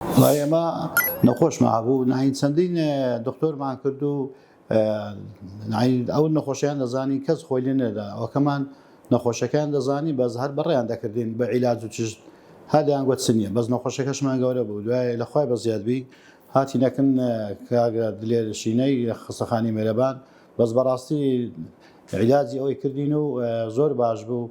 و ئێمە نەخۆشمان هەبوو ناین چەندین دکتۆرمان کرد و ناین ئەو نەخۆشیان دەزانی کەس خۆی لێ نەدا ئەوکەمان نەخۆشەکان دەزانی بەس هەر بەڕێیان دەکردین بە عیلاج و چشت هەدەیان گوت چ نییە بەس نەخۆشەکەشمان گەورە بوو دوای لەخوای بە زیادبی هاتی نەکن کاگە دلێرشینەی خستەخانی مێرەبان بەس بەڕاستی عیلاجی ئەوەی کردین و زۆر باش بوو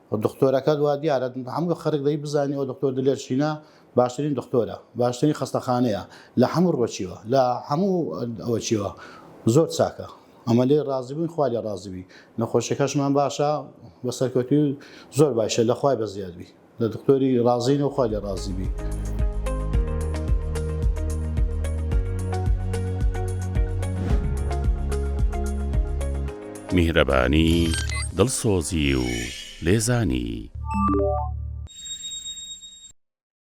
دختۆرەکەت وا دیارە هەموو خەرک دەی بزانی ئەو دختۆر دلێر شینە باشترین دختۆرە باشترین خەستەخانەیە لە هەموو ڕۆچیوە لە هەموو ئەوە چیوە زۆر چاکە ئەمە لێ ڕازی بووین خوا لێ ڕازبی نەخۆشەکەشمان باشە بە سەرکەوتوی زۆر باشە لە خوای بە زیادبی لە دکتۆری ڕازین و خوا لێ ڕازیبی. میهرەبانی، دڵسۆزی و لێزانی.